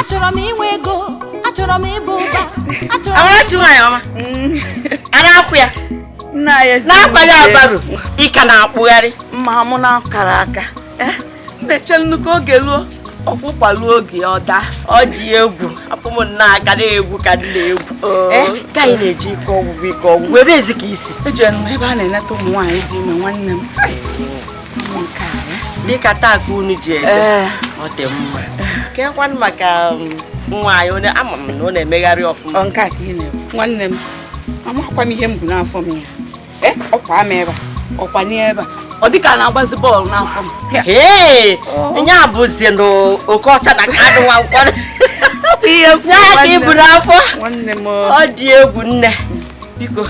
achọrọ m inwe ego achọrọ m ịba ụba achọrọ m Amarachi nwaanyị ọma a na-akwụ ya Nna ya ezi n'akwanye abaru ị ka na-akpụgharị mma mụ na akara aka eh, m echelụ ka oge ruo ọkwa ụkwa ruo oge ọ daa ọ dị egwu hapụ m na aka na-egwu ka dị na-egwu oh. eh, ka anyị na-eji ike ọgwụgwụ ike ọgwụgwụ ebee zi ka i si ejere m ebe a na-eneta ụmụ nwaanyị dị ime nwanne m dịka taa ka unu ji eje eh. ọ dị mma kekwanụ maka um, nwa anyị ama m na ọ na-emegharị ọfụma nwanne m amakwa m ihe m bu n'afọ m ya eh, ọ kwaa m ebe a ọ kwaa n'ebe a ọ dịka a na-agbazi bọọlụ n'afọ m ee nya bụzi na Okocha na Kanu Nwankwo ya ka i bu n'afọ ọ dị egwu nne biko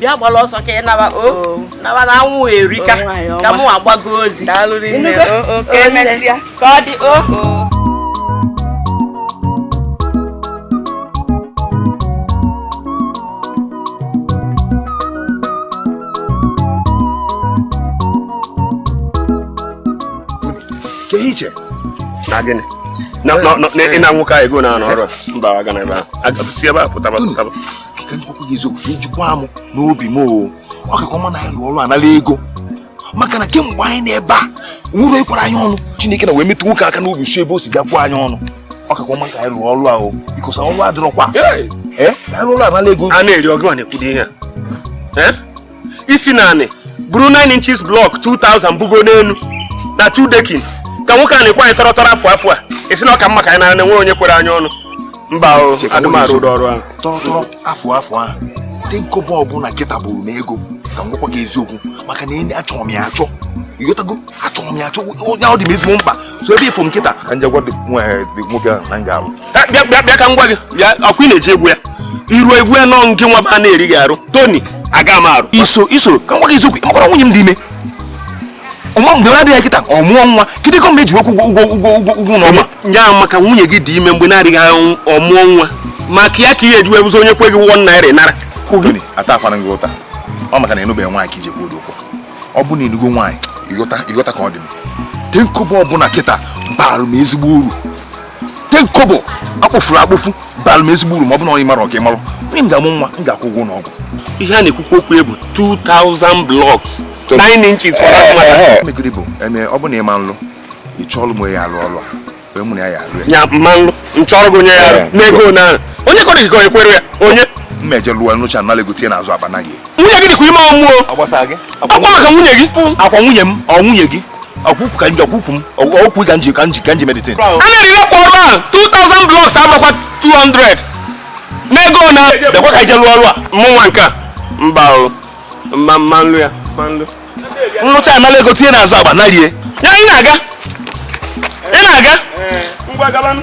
bịa gbara ọsọ ka ị naba o oh. naba na anwụ erika oh, ka mụwa gbagozi ka ọ dị oho kee ihe i che na gịnị Na- na- na- na- ịna nwoke a ego n'ọrụ a? mba agana ebe ahụ aga si ebe a pụtaba pụtaba ka m gwakwa gị eziokwu ka ijikwa m n'obi m o ọ kakwa mma na a lụọ ọrụ a nala ego maka na kemgbe anyị nọ ebe a o nwerọ onye kwere anyị ọnụ Chineke na wee metụ nwoke aka n'obi si ebe o si bịa kwe anyị ọnụ ọ kakwa mma ka anyị rụọ ọrụ ahụ biko sa ọrụ adịrọkwa eh? a lụọ ọrụ a nala ego a na-eri ọgụ na-ekwu ụdị ihe eh? ị sị na anyị buru 9 inches block 2000 bugo n'elu na 2 decking ka nwoke a na-ekwe anyị tọrọ tọrọ afụ afụ a ị sị na ọ ka mma ka anyị na-ene nwere onye kwere anyị ọnụ mba o adị m arụ ụdị ọrụ ahụ afụ afụ ahụ ten kobo ọbụla kịta bụrụ m ego ka m gwakwa gị eziokwu maka na enyi achọrọ m ya achọ ịghọtago achọrọ m ya achọ onye ahụ dị m ezigbo mkpa so ebe ị fụ m kịta ka m je gwa nwoke ahụ na m ga-alụ bịa bịa bịa ka m gwa gị bịa ọkwa ị na-eji egwu ya iru egwu ya nọ nke nwa ba na-eri gị arụ Tony aga m arụ iso iso ka m gwa gị eziokwu ị makwara nwunye m dị ime ọnwa mgbe na-adịghị anya kịta ọ mụọ nwa kedu ka m ga-eji wee kwụọ ụgwọ ụgwọ ụgwọ ụgwọ ụlọ ọma nya bụ maka nwunye gị dị ime mgbe na-adịghị anya ọ mụọ nwa maka ya ka ị ga-eji wee bụzi onye kwe gị 1 naira ị nara Tony atakwana gị ụta ọ maka na ị nụbeghị nwaanyị ka i ji ekwu ụdị okwu ọ bụ na ị nụgo nwaanyị ị ghọta ị ghọta ka ọ dị m ten kobo ọbụla kịta baara m ezigbo uru ten kobo akpọfuru akpọfu bara m ezigbo uru ma ọ bụ na onye mara ọka ịmarụ nwunye m ga-amụ nwa m ga-akwụ ụgwọ ụlọ ọgwụ ihe a na-ekwukwu okwu ya bụ 2000 blocks 9 inches for that matter. megide bụ eme ọ bụ na ịma nlụ ị chọọlụ m ya alụ ọlụ a wee mụ na ya ya alụ ya ya mma nlụ nchọrọ gị onye ya arụ n'ego na onye kọrọ gị ka onye kwere ya onye mma eje lụọ lụcha nala ego tie n'azụ akpa na gị nwunye gị dịkwa ime ọ mụọ ọ gbasa gị ọkwa maka nwunye gị ọkwa nwunye m ọ nwunye gị ọkwụkwụ ka nji ọkwụkwụ m ọkwụkwụ ka nji ka nji ka nji meditin a na-ere ọkwa ọrụ a 2000 blocks amakwa 200 n'ego ole dekwa ka ije lụọ ọrụ a mụ nwa nke a mba o mma mma nlụ ya mma nlụ nlụcha anala ego tinye n'azụ akpa na rie ya ị na-aga ị na-aga ngwa gabanụ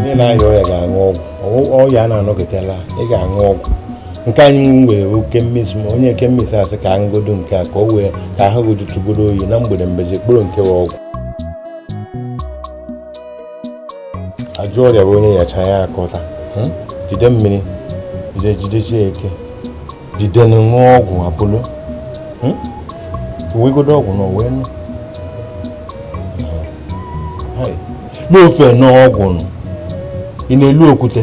onye na-arịa ọya ga-aṅụ ọgwụ ọya a na-anọgidela ị ga-aṅụ ọgwụ nke anyị nwere oke mmezi ma onye chemist sị ka aṅụgodo nke a ka o wee ka ahụ gị jụtụgodo oyi na mgbede mbezi kpụrụ nke wa ọgwụ ajọ ọrịa bụ onye yachaa ya akọta hmm? jide mmiri jide jidesie ike jide nụ ṅụọ ọgwụ apolo hmm? wegodo ọgwụ ṅụọ wee ṅụọ n'ofe ṅụọ ọgwụ nụ ị na-elo okwute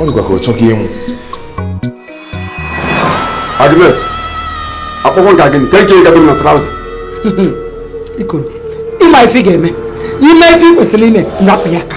ọ dịkwa ka ọ chọghị ịṅụ Agnes akpọkọ nka gịnị ka eke gabe na trouser ikoro ịma ife ga-eme ịma ife ị kwesịrị ime rapụ ya ka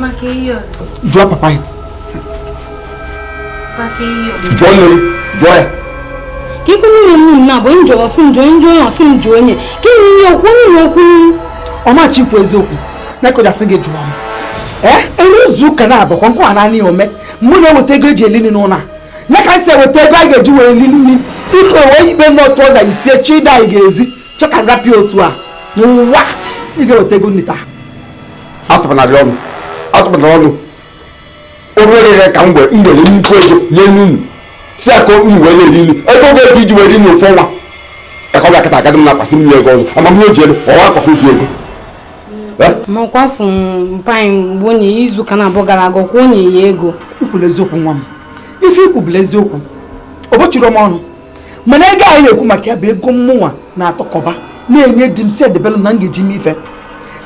maka ihe ọzọ jụọ papa ya maka ihe ọzọ jụọ nne gị jụọ ya ka ikwu niile m na-abụ njọ ọ sị m jụọ m jụọ onye ọ sị m jụọ onye ka ịnye ihe okwu niile okwu ọmachi ikwu eziokwu na kụjasị gị jụọ m ee eri izu ụka naabọkwa nkwa naanị ya ome mụ na-eweta ego eji eli nri n'ụlọ a na ka m si eweta ego a ga-eji wee eli nri iko wee ikpe nnọọ trouser isie chi ịda anyị ga-ezi chọ ka m rapụ ya otu a n'ụwa ị ga-eweta ego nri taa atụpụnara gị ọnụ atụpụnara ọnụ obere ihe ka m were m were nnukwu ego nye unu sị ya ka unu wee na-eri nri ego a ga-eji were nri ofu ọnwa ka ọ bịa kịta agadị m na-akwasị m nye ego ọzọ amamihe o ji elu ọwa akpakọ ji ego makwafu mpa gị mgbe onye izu ụka naabọ gara aga ka o nye ya ego ikwula eziokwu nwa m ife i kwu bụla eziokwu o mechiere m ọnụ mana ego anyị na-ekwu maka ya bụ ego mmụnwa na-atọkọba na-enye di m sị ya debelụ na m ga-eji me ife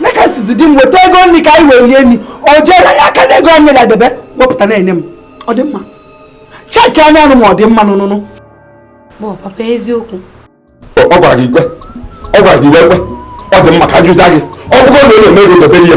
na ka sịzi di m weta ego nri ka anyị wee lie nri ọ jeere ya aka n'ego anyị na-edebe wepụta na-enye m ọ dị mma cheki anya anụ ma ọ dị mma n'ụnụnụ papa eziokwu ọ gwara gị ikpe ọ gwara gị ikpe ọ dị mma ka m jụzie gị ọ bụgo na ọ na-eme ego dobere ya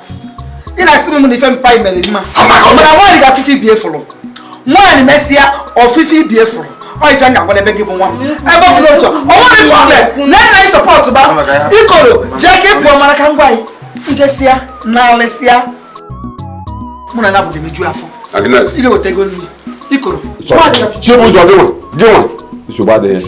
ị na-asị m na ife mpa mere mma mana nwaanyị ga-afụ ife ibe ya fụrụ nwaanyị mesịa ọ fụ ife ibe ya fụrụ ọ ife m ga-agwa n'ebe gị bụ nwa m ebe ọ bụla otu o nwere problem na na support ba ikoro jee ka ị pụọ mara ka ngwa anyị i jesịa na alịsịa mụ na ya abụghị emeju afọ ị ga-eweta ego nri ikoro Chibuzọ gịnwa gịnwa nsogbu adịghị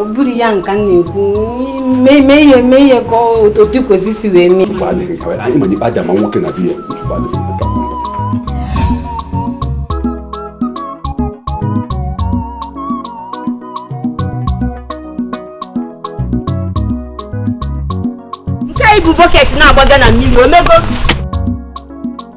ọ bụrụ ya nka m na-ekwu mee ihe mee ihe ka otu i kwesị si wee mee anyị ma ikpe aja ma nwoke na bịa nke ibu bọket na-agbaga na mmiri o mego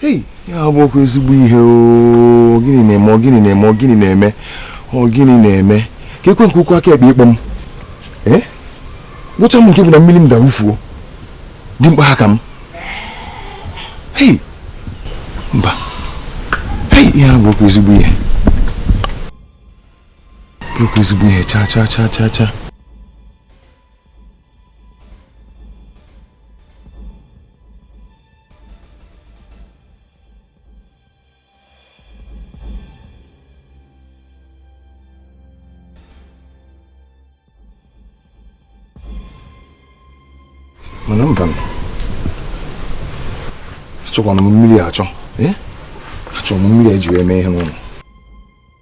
hei ihe a abụrọkwa ezigbo ihe o gịnị na-eme ọ gịnị na-eme ọ gịnị na-eme ọ gịnị na-eme keekwa nke ụkwụ aka ekpe ịkpọ m ee gwụcha m nke bụ na mmiri m daa wụfuo dị mkpa ha ka m hei mba hei ihe a abụrọkwa ezigbo ihe ọ bụrọkwa ezigbo ihe cha cha cha cha cha mana mba achọkwanụ m mmiri achọ achọrọ m mmiri e ji wee mee ihe n'ụlọ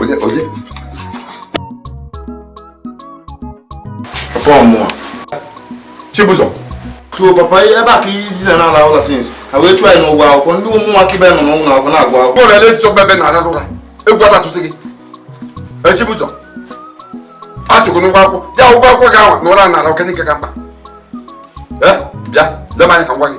onye onye papa ọ mụ o Chibuzọ so papa ebe a ka i dina na-ala ụla since ha wee chụọ anyị n'ụgwọ akwụkwọ ndị ụmụaka ibe nọ n'ụlọ akwụkwọ na-agụ akwụkwọ bọọlụ ele tụsọba ebe a na-ala ụra egwu atatụsị gị Chibuzọ a chụọ gị n'ụgwọ akwụkwọ ya ụgwọ akwụkwọ gị ahụ n'ụra na-ala ọ ka n'ike ka mkpa bịa lema anyị ka ngwa gị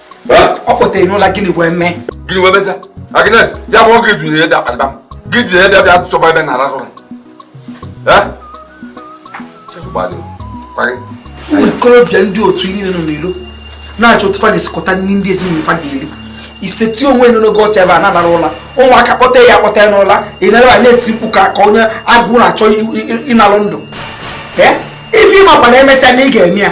ọ kpọtere n'ụla gịnị wee mee gịnị wee mezie Agnes ya bụ oge dunye ede akpatịba m gị ji ede bịa tụsọba ebe a na-arasị ụra ụmụ ikorobịa ndị otu niile nọ n'ilo na-achọ otu fa ga-esi kpata nri ndị ezinụlọ fa ga-eri i setị onwe nọ n'oge ọcha ebe a na-alara ụla ụmụaka kpọte ya akpọte n'ụla ị naraba na-eti mkpu ka ka onye agụ na-achọ ịnalụ ndụ ife ị makwa na e mesịa na ị ga-eme ya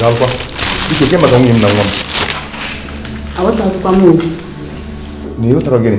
Dọkịta, ike ke maka nwunye m na nwa m? Aghọtaghịkwa m okwu. Na ịghọtara gịnị?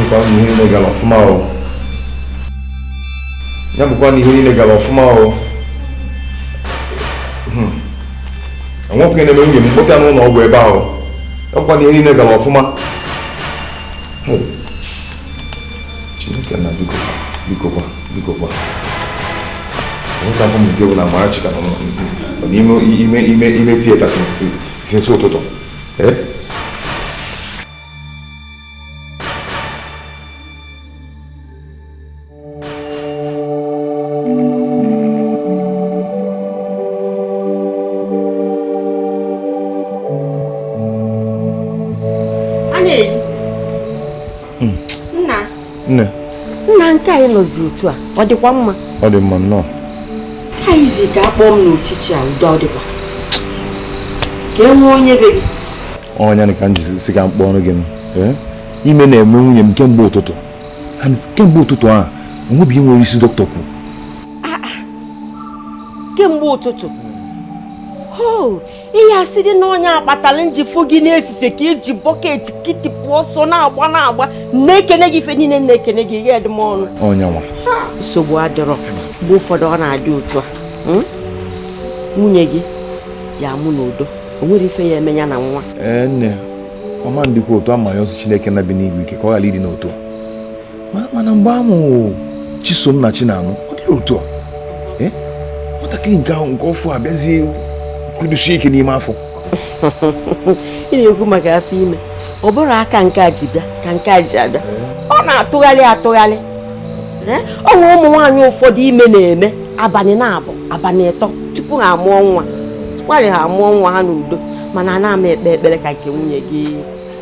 bụkwa na ihe niile gara ọfụma o ya bụkwa na ihe niile gara ọfụma o ime na-eme nwunye m kpọta n'ụlọ ọgwụ ebe ahụ ya bụkwa na ihe niile gara ọfụma chineke nna biko biko kwa biko kwa nwoke abụ m nke bụ na Amarachi ka nọ n'ime ime ime ime theatre since ụtụtụ ee nọzi otu a ọ dịkwa mma ọ dị mma nnọọ na i zi ka a kpọọ m n'uchichi a udo ọ dịkwa ka e nwee onye be gị ọ nya ka m ji sị ka m kpọọrụ gị ime na-eme nwunye m kemgbe ụtụtụ and kemgbe ụtụtụ ahụ o nwebeghị ihe nwere isi dọkịta kwuru ah, ah. kemgbe ụtụtụ oh, ihe asị dị na ọ nya kpatara m ji fụ gị n'efifie ka i ji bucket kitipụ ọsọ na-agba na-agba na-ekene gị ife niile na-ekene gị i nyedị m ọnụ nsogbu adịrọ mgbe ụfọdụ ọ na-adị otu a hmm? nwunye gị ya-amụ n'udo o nwerọ ife ya-eme ya na nwa ọ ma ndịkwa otu a ma ya sie chineke nna bi n'igwe ike ka ọ ghara ịdị n'otu a mana mgbe a mụrụ chisom na chinanụ ọ dịrọ otu a eh? nwatakịrị nke ahụ nke ọfụụ abịazie kwudosie ike n'ime afọ ị na-ekwu maka afọ ime ọ bụrọ aka nke a ji bịa ka nke a ji abịa ọ na-atụgharị atụgharị eh? o nwe ụmụ nwaanyị ụfọdụ ime na-eme abalị naabọ abalị ịtọ tupu ha amụọ nwa tupu ha amụọ nwa ha n'udo mana ana m ekpe ekpere ka nke nwunye gị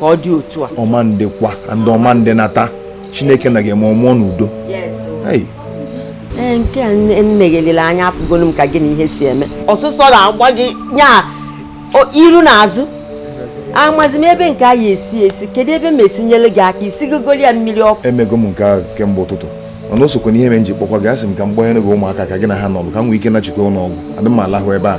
ghara ịdị otu a ọ ma ndịkwa ndị ọ ma ndị nata chineke nna ga-eme ọ mụọ n'udo ee nke a nne gị lere anya afụgolu m ka gị na ihe si eme ọsụsọ na-agba gị nya iru na azụ amazi m ebe nke a ya-esi esi kedu ebe m esi nyere gị aka i sigoli ya mmiri ọkụ emego m nke ahụ kemgbe ụtụtụ mana o sokwa n'ihe m ji kpọkwa gị asị m ka m gbanyere gị ụmụaka ka gị na ha nọrụ ka m nwee ike nachikwa ụlọ ọgwụ adị m alahụ ebe a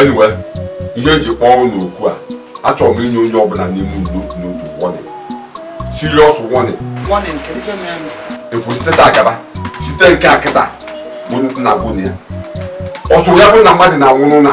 anyway ihe eji kpọọ unu okwu a achọrọ m inye onye ọbụla n'ime unu n'otu n'otu warning serious warning efu site taa gaba site nke a kịta bụ nna bụ na ya ọsọ ya bụ na mmadụ na-anwụ n'ụlọ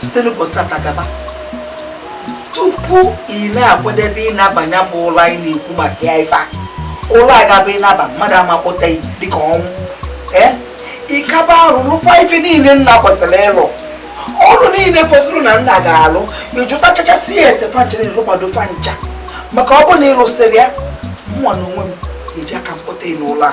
site n'ụbọchị tata gaba tupu ị na-akwadebe ịnabanye bụ ụlọ anyị na-ekwu maka ya ife a ụlọ a ga-abụ ịnaba mmadụ amakpọta ya dịka ọnwụ ee ịkaba arụ lụkwa ife niile nna kwesịrị ịlụ ọrụ niile kwesịrị na nna ga-alụ ịjụta chachasị ya ese fa ncha ị lụkwado fa ncha maka ọ bụ na ịlụsịrị ya mụwa na onwe m eji aka m kpọta n'ụlọ a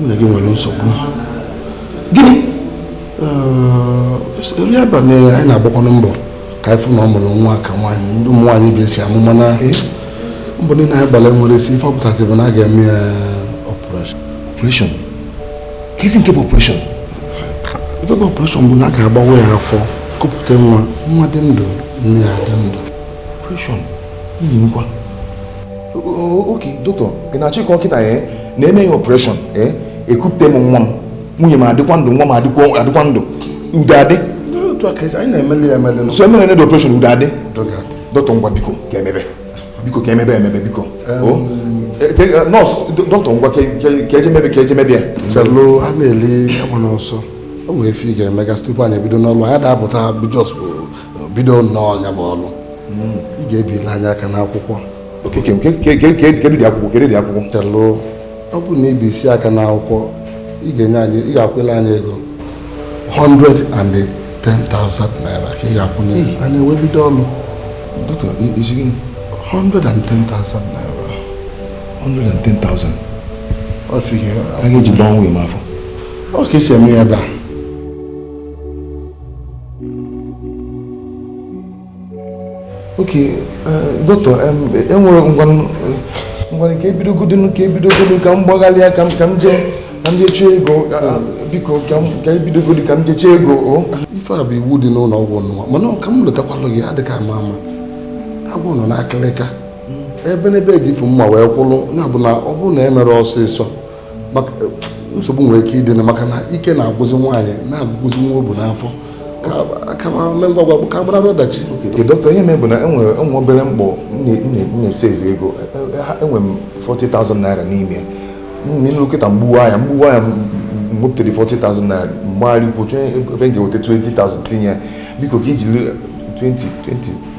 nwunye gị nwere nsogbu gịnị eri abalị anyị na-agbakwanụ mbọ ka anyị fụ na ọ mụrụ nwa ka nwaanyị ndị ụmụ nwaanyị ibe ya si amụ mana mbọ niile anyị gbara enwerọ isi ife ọ pụtazi bụ na a ga-eme ya operation operation kezi nke bụ operation ife bụ operation bụ na a ga-agbawa ya afọ kupụta nwa nwa dị ndụ nne ya dị ndụ operation nwunye m kwa ok dọkịta ị na-achọ ịkọ kịta ya na e mee ya operation ekupụta m nwa m nwunye m adịkwa ndụ nwa m adịkwa ndụ udo adị so emere the operation udo adị dọkịta ngwa biko ka emebe biko ka emebe emebe biko nọọsụ dọkịta ngwa ka eje mebe ka eje mebe ya chelụ a na-eli agba n'ọsọ o nwere ife ị ga-emegasị tupu anyị ebido n'ọlụ anyị da-apụta bidọs bụ bido nnọọ ya bụ ọlụ hmm. ị ga-ebili anyị aka n'akwụkwọ kedu ụdị akwụkwọ kedu ụdị akwụkwọ chelụ ọ bụrụ na i bisie aka n'akwụkwọ ị ga-enye anyị ị ga-akwụla anyị ego 110,000 naira ka ị ga-akwụnye hmm. anyị wee bido ọlụ 110,000 naira 110,000 a ga-eji gbawa nwunye m afọ ọ ka esi eme ya ebe a ok dọkịta enwere ngwanụ ka ebidogodonu ka ebidogodonu ka m gbaghalịa ka m ka m jee ka m jee chọọ ego biko ka ebidogodu ka m jee chọọ ego ife a bụ iwu dị n'ụlọ ọgwụ nwa mana ka m lotakwalụ gị adịghị ama ama agwọ nọ n'akịlịka ebe n'ebe ejifu mma wee kwụrụ ya bụ na ọ bụrụ na emerọ ọsịsọ nsogbu nwere ike ịdị maka na ike na-agwụzi nwaanyị na-agwụzi nwa obu n'afọ ka agbanarị ọdachi dọkịta ihe mee bụ na enwere m obere mkpọ m na-esevu ego enwere m 40,000 naira n'ime m ruo kịta m gbuwa ya m gbuwa ya m wepụta 40,000 naira m gbagharịkwuo chọọ ebe m ga-eweta 20,000 tinye biko ka iji 2020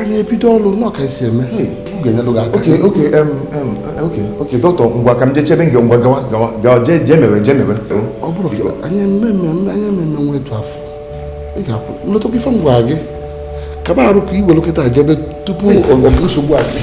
anyị ebido ọrụ nọ ka esi eme ga-enyelụ gị aka okay okay okay okay dọkịta ngwa ka m jee chebe gị ngwa gawa gawa gawa jee jee mewe jee mewe ọ bụrụ gị anyị eme mmemme anyị eme mmemme etu afụ ị ga-akwụ m lotakwa ife m gwa gị kaba arụ ka iwere kịta jebe tupu ọgụ nsogbu adị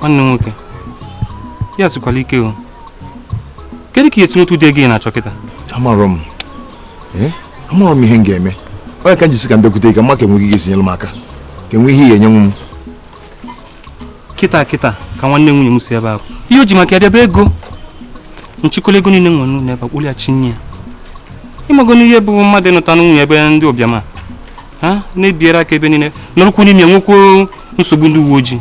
nwanne nwoke ihe a sikwala ike o kedu ka esi nweta ụdị ego ị na-achọ kịta amarọ m eh? amarọ m ihe m ga-eme ọ nya ka m ji sị ka m bịakwute gị ka m ma ka enwe ka ị ga-esi nyere m aka ka enwe ihe ị ga-enyenwu m kịta kịta ka nwanne nwunye m si ebe ahụ ihe o ji maka ya bịa bụ ego m chịkọla ego niile m nwere n'ụlọ ebe a kpụlịa chinye ya ị mago na ihe bụ mmadụ ịnụta nwunye ebe ndị ụbịam ha na-ebiere aka ebe niile nọrụkwu n'ime nwekwu nsogbu ndị uwe ojii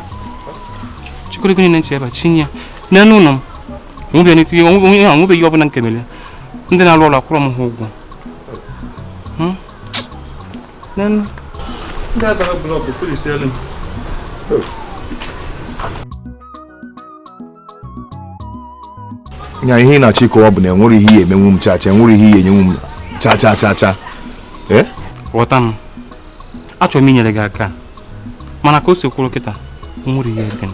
chịkọrọ ego niile m chebe chinye ya n'elu ụlọ m onwebeghị ọbụla nke mere ndị na-arụ ọrụ akwụrọ m ha ụgwọ ndị adara blọọkụ polisie elu nya ihe ị na-achọ ịkọwa bụ na enwerọ ihe ị ya-emenwu m chacha enwerọ ihe ị ya-enyenwu m chacha chacha eh? ghọta m achọrọ m inyere gị aka mana ka o si kwụrụ kịta nwerọ ihe dị m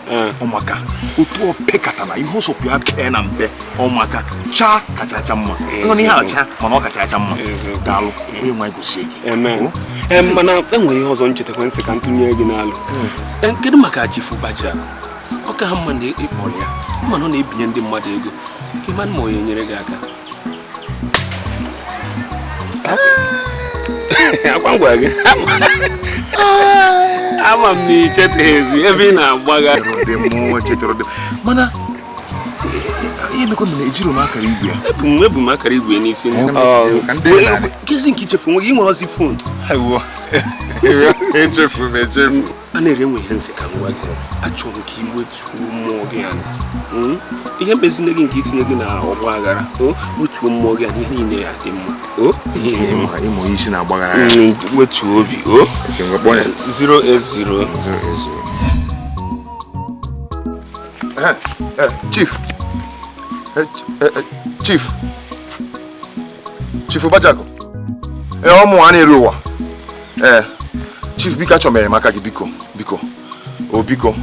ọmaka otu opekata na ihe ọ sọkwa ya pee na mpe ọmaka chaa kachacha mma nọ n'ihe acha mana ọ kachacha mma daalụ onye nwe anyị gọzie gị mana enwere ihe ọzọ m chetakwa m sị ka m tụnye gị n'alo kedu maka chifu baja okay ama m na ị kpọrọ ya mana ọ na-ebinye ndị mmadụ ego ị ma ma ọ ya-enyere gị aka ọkwa m gwa gị ama m na ichetaghịzi ebe ị na-agbaga mana ihe mekwa na ejirọ m akara igwe ya ebu m ebu m akara igwe n'isi kezi nke ichefu nwe gị nwere ozi fon echefu m echefu Andrew enwe ihe m sị ka m gwa gị achọrọ m ka iwetuo mmụọ gị ya hmm? ihe emekpazịna gị nke itinye gị na ọgba aghara oh, wetuo mmụọ gị ya ihe niile ya-adị mma oh? ịmụ onye isi na-agbaghara ya hmm, wetuo obi 080 oh. eh, eh, chief eh, chief chief Bajako ee ọ mụwa Andrew ee chief biko achọrọ m enyemaka gị biko biko o biko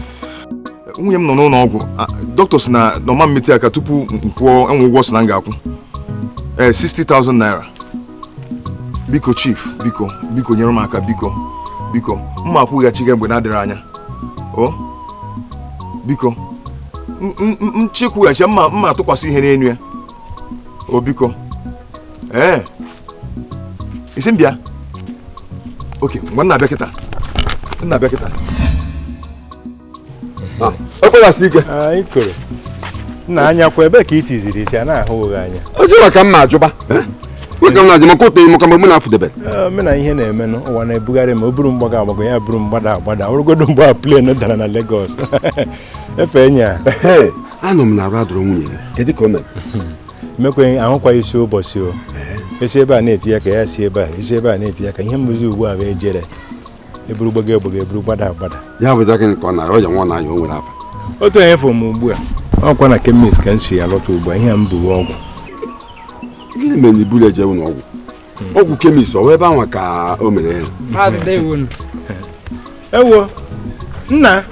nwunye m nọ n'ụlọ ọgwụ dọkịta sị na ọ ma emetụ ya aka tupu m kwụọ enwe ụgwọ sị na m ga-akwụ ee 60,000 naira biko chief biko biko nyere m aka biko biko mma akwụghachi gị mgbe na-adịghị anya o biko m chọọ ịkwụghachi mma mma atụkwasị ihe n'elu ya o biko ee ị sị m bịa oke ngwa m na-abịa kịta m na-abịa kịta ah, okpewasị ike anyị koro nna anya kwa ebee ka i tiziri isi a na-ahụ gị anya o ji maka mma ajụba eh? nwoke m na-ajụ maka otu enyi maka mgbe m na-afụdebere eh, mena ihe na-eme n'ụwa na-ebugharị m o buru m gbago agbago ya buru m gbada agbada o rugodu mgbe a plen dara na Lagos efe enya anụ m na arụ adịrọ nwunye gị kedu ka o mere emekwa ahụkwa isi ụbọchị o si ebe a na-eti ya ka ya si ebe a esi ebe a na-eti ya ka ihe bụzi ugbu a bụ ejere eburu gbago agbago eburu gbada agbada ya bụzi gịnị ka ọ na-aya nwa na anya o nwere afa otu onye fụrụ m ugbu a ọkwa na kemis ka m si ya lọta ugbu a ihe a m bu bụ ọgwụ gịnị mere na i burọ ya je ụlọ ọgwụ ọgwụ kemis ọ ebe anwa ka o mere ewo nna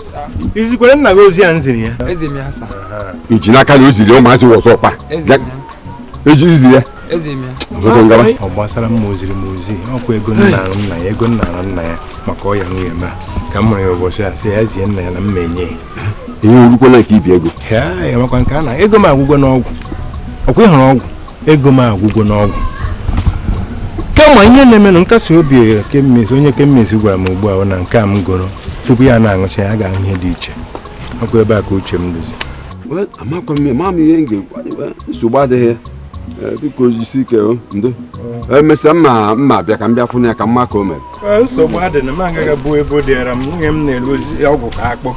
izikwara nna gị ozi a m ziri ya i ji n'aka na o ziri ụmụazị wọzọ ọkpa eji izi ya ọ gbasara m ma o ziri m ozi ọkwa ego m na-arịọ nna ya ego m na-arịọ nna ya maka ọya nwunye m ka m fụrụ ya ụbọchị a sị ya zie nna ya na mma enye ya ihe orukwala nke ibi ego ya makwa nke a na ego m agwụgo n'ọgwụ ọkwa ịhụrụ ọgwụ ego m agwụgo n'ọgwụ kama ihe na-enye m nkasi obi kemis onye kemis gwara m ugbu a na nke a m goro tupu ya na-aṅụcha ya ga-ahụ ihe dị iche ọkwa ebe a ka uche m dịzi amakwa m ma m ihe m ga-ekwu nsogbu adịghị biko jisi ike ndo emesịa mma mma bịa ka m bịa fụ ya ka m ma ka o mere nsogbu adị na m agaghị bụ ebe o dịara m nwunye m na-elozi ọgwụ ka akpụ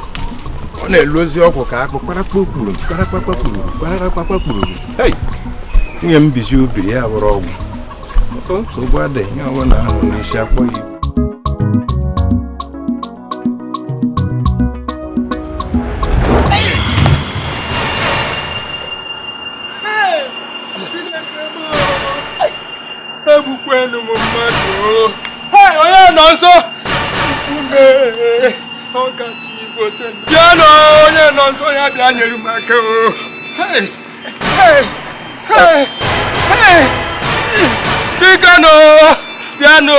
ọ na-elozi ọgwụ ka akpụ kparakpakpuru kparakpakpuru kparakpakpuru nwunye m bizi obiri ya bụrụ ọgwụ nsogbu adịghị ihe ọbụla ahụ n'isi akpọ ya egbukwenu m mmadụ onye nọ nso ọkachi igbo bịanụ onye nọ nso ya bịa nyere m aka bikonu bịanụ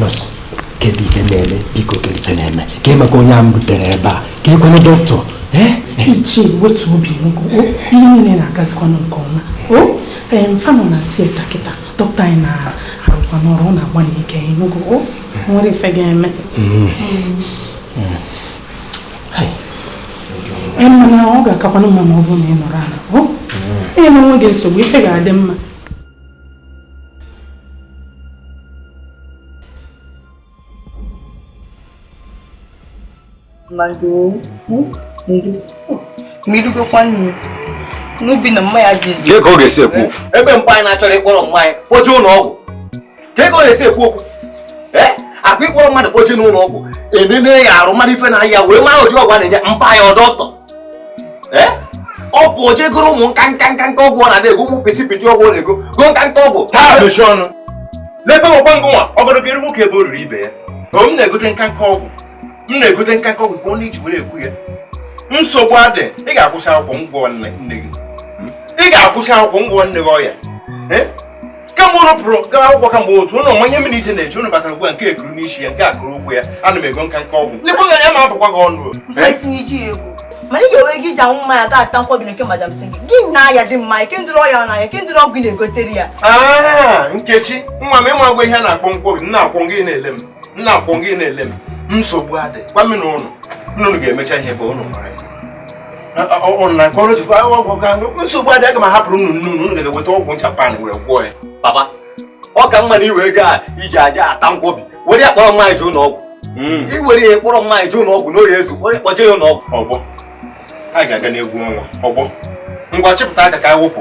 nọọsụ kedu ife na-eme biko kedu ife na-eme kee maka onye a m butere ebe a keekwanụ dọkịta ichie wetu obi ihe niile na-agazikwanụ nke ọma fa nọ na tieta kịta dọkịta anyị na-arụkwanụ ọrụ ọ na-agbanị ike ịnụgo o nwerọ ife ga-eme mana ọ ga-akakwanụ mma ma ọ bụrụ na ị nọrọ ala enyena onwe gị nsogbu ife ga-adị mma n'ubi na mmanya jizi ka ọ ga-esi ekwu okwu ebe mpa anyị na-achọrọ ịkpọrọ mma anyị kpọje ụlọ ọgwụ kee ka ọ ga-esi ekwu okwu ọkwa ịkpọrọ mmadụ kpọje n'ụlọ ọgwụ enene ya arụ mara ife na-aya ya wee mara ụdị ọgwụ a na-enye mpa ya ọ dọkịta eh? ọ bụ oje goro ụmụ nka nka ọgwụ ọ na-adị ego ụmụ piti piti ọgwụ ọ na-ego go nka nka ọgwụ taa mechie ọnụ n'ebe ọkwa ngụ nwa ọgọdọgọ eru nwoke ebe o riri ibe ya ọ m na-egote nka nka ọgwụ m na-egote nka nka ọgwụ ka ọ na-eji were ekwu ya nsogbu adị ị ga-akwụsị akwụkwọ m gwọọ nne gị ị ga-akwụsị akwụkwọ m gwọọ nne gị ọya eh? kemgbe ụnụ pụrụ gawa akwụkwọ kamgbe otu ụnụ ọ ma ihe mere ije na-eji ụnụ batara ugbu a nke ekuru n'isi ya nke a kụrụ ụkwụ ya ana m ego nka nka ọgwụ lekwa anya m abụkwa gị ọnụ ma ị ga-enwe nke i ji anwụ mmanya ga ata nkwobi na nke madam si gị gị na ya dị mma kee ụdịrị ọya na-aya ya kee ụdịrị ọgwụ ị na-egotere ya ah, nkechi nwa m ị makwa ihe a na-akpọ nkwobi nna akwọ gị na-ele m nna akwọ gị na-ele m nsogbu adị gwa m na ụnụ nne ụnụ ga-emecha ihe ọ bụ ụnụ mara ya nsogbu adị aga m ahapụrụ unu nne unu ga-eweta ọgwụ japan were gwọọ ya papa ọ ka mma na iwe ego a i ji aja ata nkwobi were ya kpọrọ mma anyị jee ụlọ ọgwụ hmm. i were ya kpọrọ mma anyị jee ụlọ ọgwụ na ọ ya-ezu were kpọje ya ụlọ ọgwụ ọgbọ ha ga-aga n'egwu ọnwa ọgbọ ngwa chịpụta aka ka anyị wụpụ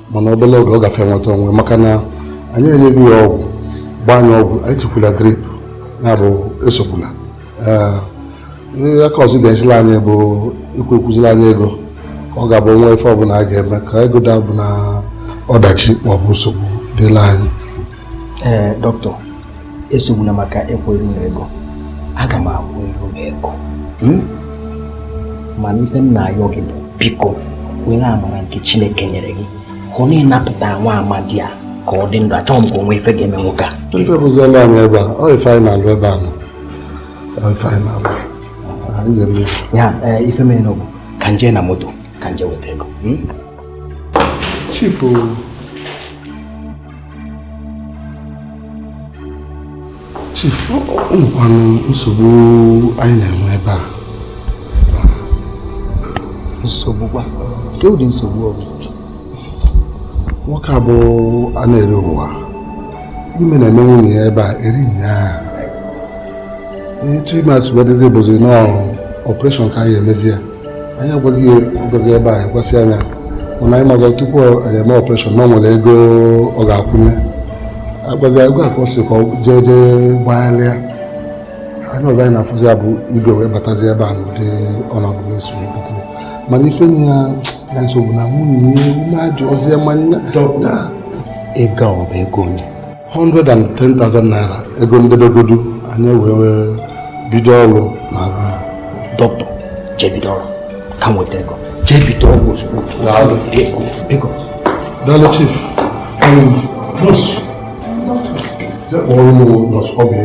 mana obere oge ọ gafe nweta onwe maka na anyị enyego ya ọgwụ gbaa ya ọgwụ anyị tikwula drip ya bụ esogbula aka ọzọ ga-esila anyị bụ ịkwụ ịkwụzila anyị ego ka ọ ga-abụ e nwee ife ọbụla a ga-eme ka ego da bụ na ọdachi maọbụ nsogbu dịla anyị ee eh, dọkịta esogbuna maka ịkwụ iru m ego aga m akwụ iru m ego hmm? mana ife m na-ayọ gị bụ biko were amara nke chineke nyere gị hụ na ị napụta nwa amadi a ka ọ dị ndụ achọghị m ka o nwee ife ga-eme nwoke a ife bụziela anyị ebe a ọ ife anyị na-alụ ebe a na ọ ife anyị na-alụ ya eh, ife mere nụ bụ ka m je na moto ka m je weta ego hmm? chifu Chief, nekwanụ nsogbu anyị na-enwe ebe a nsogbu kwa kedụ ụdị nsogbu ọ bụ nwoke a bụ a na-ere ụwa ime na-eme nwunye ya ebe a eri nyaa etu ime a si wee dịzi bụzi nọọ operation ka anyị emezi ya anyị agwaghị ya agwazi ebe a ekwesị anya mana anyị maga tupu anyị eme operation na o nwere ego ọ ga-akwụnye agwazi ego a ka ọ sị ka ọ jee jee gbagharịa anya ọzọ anyị na-afụzi ya bụ igwe wee batazi ebe a n'ụdị ọnọdụ ga-eso ebute mana ife na ya ya nsogbu na nwunye ume ajụ ọzọ ya ma nna ego ọ bụ ego one 110,000 naira ego ndebegodu anyị wee bido ọrụ na doctor jee bido ọrụ ka m weta ego jee bido ọrụ ozugbo daalụ chief nurse kpọọrọ m nurse Oby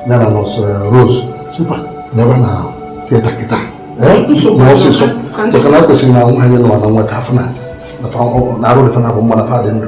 ya na nurse eh, Rose sị fa bịaba na theatre kịta mee ọsịsọ maka na kwesịrị na nwaanyị nụ a na nwa ka a fụ na arụ dị fa naabọ mma na fa dị ndụ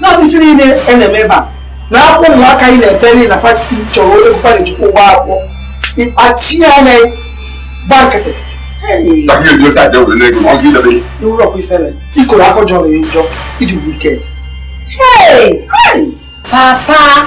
na ife niile a na-eme ebe a na akwụ ụmụaka anyị na-ebere na pati chọrọ onye bụfa na-ejikwa ụgbọ akwụkwọ ịkpachi ya na gba nkịtị i nwerọkwa ifere ikoro afọ jọrọ ya njọ ị dị wicked papa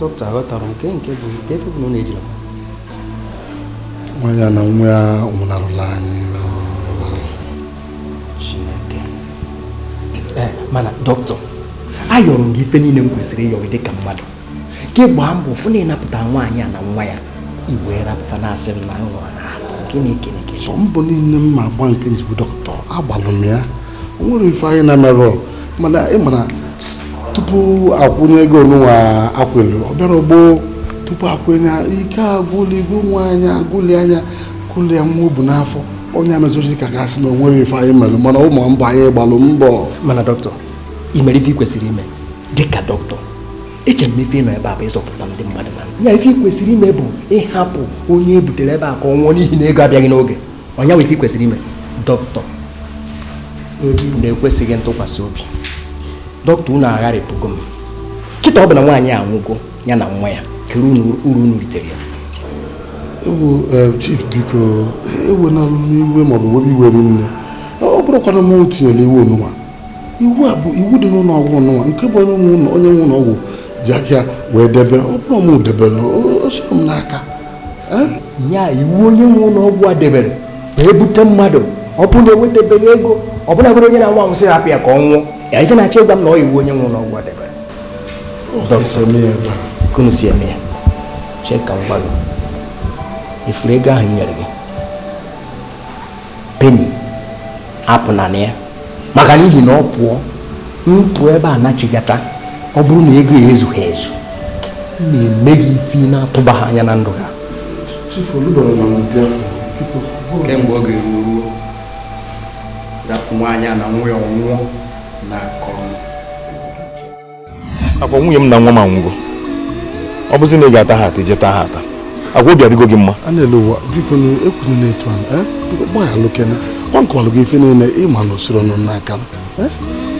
doctor aghọtarọ m nke nke bụ nke ife bụ na ọ na-ejiri nwaanyị a na nwa ya nwụnarụla anyị chineke eh, mana doctor ayọrọ m gị ife niile m kwesịrị ịyọ gị dịka mmadụ ka ị gbaa mbọ fụ na ị napụta nwaanyị a na nwa ya i wee pụta na-asị m na nwa na gịnị gịnị gịnị mbọ niile m ma agba nke m ji bụ doctor agbalụ m ya o nwerọ ife anyị na-emerọ mana ị ma na tupu akwụnye ego onụnwa e kwulu ọ bịarọ gboo tupu akwụnye ike agwụlịgo nwaanyị a gwụlị ya gwụlị ya nwa o bu n'afọ ọ ya mezizi ka a ga-asị na o nwerọ ife anyị mere mana ị ma mbọ anyị gbalụ mbọ mana doctor i merọ ife ị kwesịrị ime dịka doctor eche m ife ị nọ ebe a bụ ịzọpụta ndị mmadụ na ya ife ị kwesịrị ime bụ ịhapụ onye e butere ebe a ka ọ nwụọ n'ihi na ego abịaghị n'oge ọ nya bụ ife i kwesịrị ime dọkịta na-ekwesịghị ntụkwasị obi dọkịta unu agharịpụgo m kịta ọ bụ na nwaanyị anwụgo ya na nwa ya kedu uru unu ritere ya ewu eh, chief biko ewena iwe maọbụ webe iwe rinne ọ bụrọkwanụ m tinyere iwu nụnwa iwu a bụ iwu dị n'ụlọ ọgwụ nụnwa nke bụ onye nwe ụlọ ọgwụ ji aka ya wee debe ọ bụrọ m debere o sirọ m n'aka ya iwu onye nwe ụlọ ọgwụ a debere ma ebute mmadụ ọ bụrụ na ewetabeghị ego ọbụna godu onye na-anwụ anwụ sị hapụ ya ka ọ nwụọ ya ife ị na-achọ ịgwa m na ọ iwu onye nwe ụlọ ọgwụ a debere ka unu si eme ya chee ka m gwa gị ị fụrụ ego ahụ nyere gị Penny apụna na ya maka n'ihi na ọ pụọ m pụọ ebe a nachigata ọ bụrụ na ego ya ezughị ezu na-eme gị ife ị na-atụbaha anya na ndụ ha ka mgbe ọ ga-eru ruo rapụ nwaanyị a na nwa ya ọ nwụọ na-akọrọ ọkwa nwunye m na nwa m anwụgo ọ bụzi na ị ga-ata ha ata jee taa ha ata ọkwa obi adịgo gị mma a na-ele ụwa biko na ekwunyere na-etu ahụ eh? gbaghalụ kene ka m kọọlụ gị ife niile ị ma na o sirọ m n'aka eh?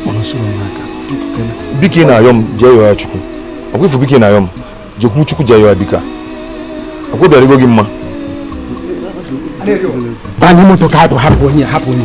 mana o sirọ m n'aka biko kene biko ị na-ayọ m jee yọọ ya chukwu ọkwa ifu biko ị na-ayọ m jekwu chukwu jee yọọ dịka ọkwa obi adịgo gị mma banye moto ka anyị pụọ hapụ onye hapụ onye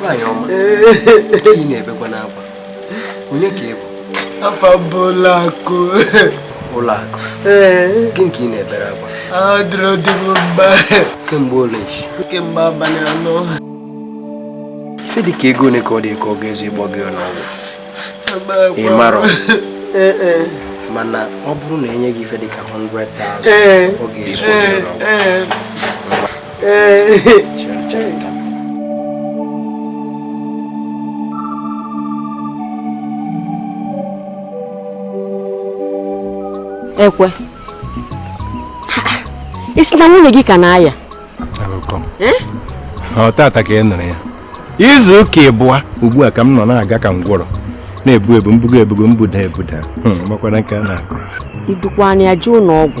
nwaanyị ọma ị na-ebekwanụ akwa onye ka ị bụ afa m bụ Ụlọakụ Ụlọakụ gịnị ka ị na-ebere akwa adịrọ di m mma kemgbe ole nchi kemgbe abalị anọ ife dị ka ego ole ka ọ dị ka ọ ga-ezu ịgwọ ya n'ụnọ ọgwụ ị marọ eh, eh. mana ọ bụrụ na e nye gị ife dịka 100,000 eh. ọ ga-ezu Ekwe ị sị na nwunye gị ka na-aya eh? ọ tata ka ị nụrụ ya izu ụka ịbụa ugbu a ka m nọ na-aga ka ngwọrọ na-ebu ebu m bugo ebugo m buda ebuda hmm, makwara nke a na-akụ i dukwanụ ya jee ụnọ ọgwụ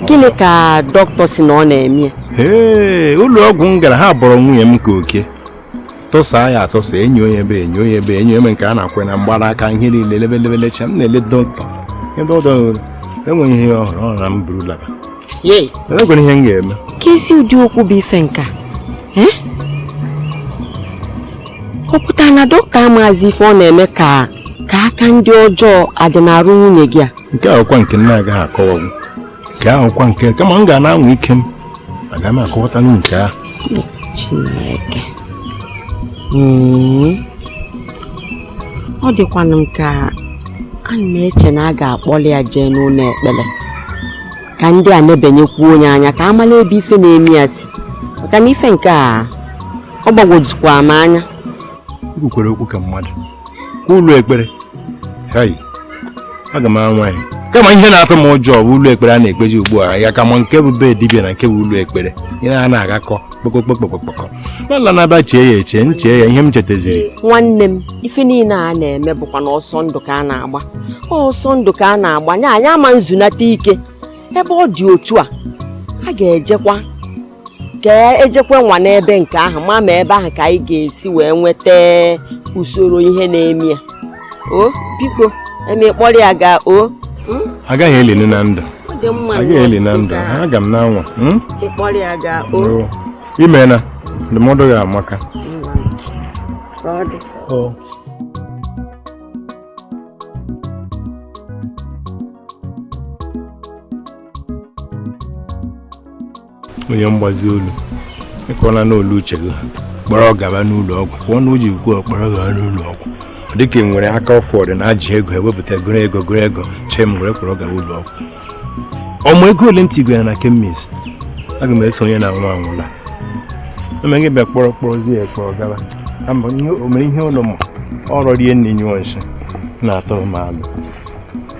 gịnị ka dọkịta sị na ọ na-eme ya ee ụlọ ọgwụ m gara ha bọrọ nwunye m ka oke tụsaa ya atụsa enyi onye ebe enyi onye ebe enyi eme nke a na-akwe na mgbara aka ihe niile lebelebelecha m na-ele dọkịta ebe ọ dọghị enweghị ihe ọ hụrụ ọ na m buru laba enwekwara ihe m ga-eme keezi ụdị okwu bụ ife nka eh? ọ pụtara na dọkịta amaghịzi ife ọ na-eme ka aka ndị ọjọọ adị n'arụ nwunye gị a nke a wụkwa nke m na-agaghị akọwagwu nke a wụkwa nke kama m ga na-anwa ike m aga m akọwatanwu nke ahụ Chineke hmm. ọ dịkwanụ m ka ana m eche na a ga-akpọli ya jee n'ụnọ ekpele ka ndị a nebenyekwuo nya anya ka a mala ebe ife na-eme ya si maka na ife nke a ọ gbagwojukwa m anya kwukwere okwu ka mmadụ kwa ụlọ ekpere hai aga m anwa ya kama ihe na-atụ m ụjọ bụ ụlọ ekpere a na-ekpezi ugbu a a ka ma nke bụ be dibịa na nke bụ ụlọ ekpere ihe a na-agakọ kpokokpokpokpokpokọ n'ala na-aba chee ya eche m chee ya ihe m chetaziri nwanne m ife niile a na-eme bụkwa na ọsọ ndụ ka a na-agba ọsọ ndụ ka a na-agba nya anyị ama nzunata ike ebe ọ dị otu a a ga-ejekwa ka e jekwa nwaa n'ebe nke ahụ ma ma ebe ahụ ka anyị ga-esi wee nweta usoro ihe na-eme ya o biko eme kpọrọ ya gaa o hmm? agaghị elili na ndụ agaghị eli na ndụ aga m na-anwa hmm? i meena ndụmọdụ gị amaka onye mgbazi olu ịkọla n'olu uche gị kpọrọ gaba n'ụlọ ọgwụ pụọ na uji kwuo kpọrọ gaba n'ụlọ ọgwụ dịka ị nwere aka ọfọdụ na ajị ego ewepụta gụrụ ego gụrụ ego chee m were kpọrọ gaba ụlọ ọgwụ ọ mụ ego ole m tigwara na kemis aga m eso onye na nwa anwụla eme gị bịa kpọrọ kpọrọzie ya kpọrọ gaba o mere ihe ụlọ m ọ rọrie nni nyụọ nsị na-atụrụ m alụ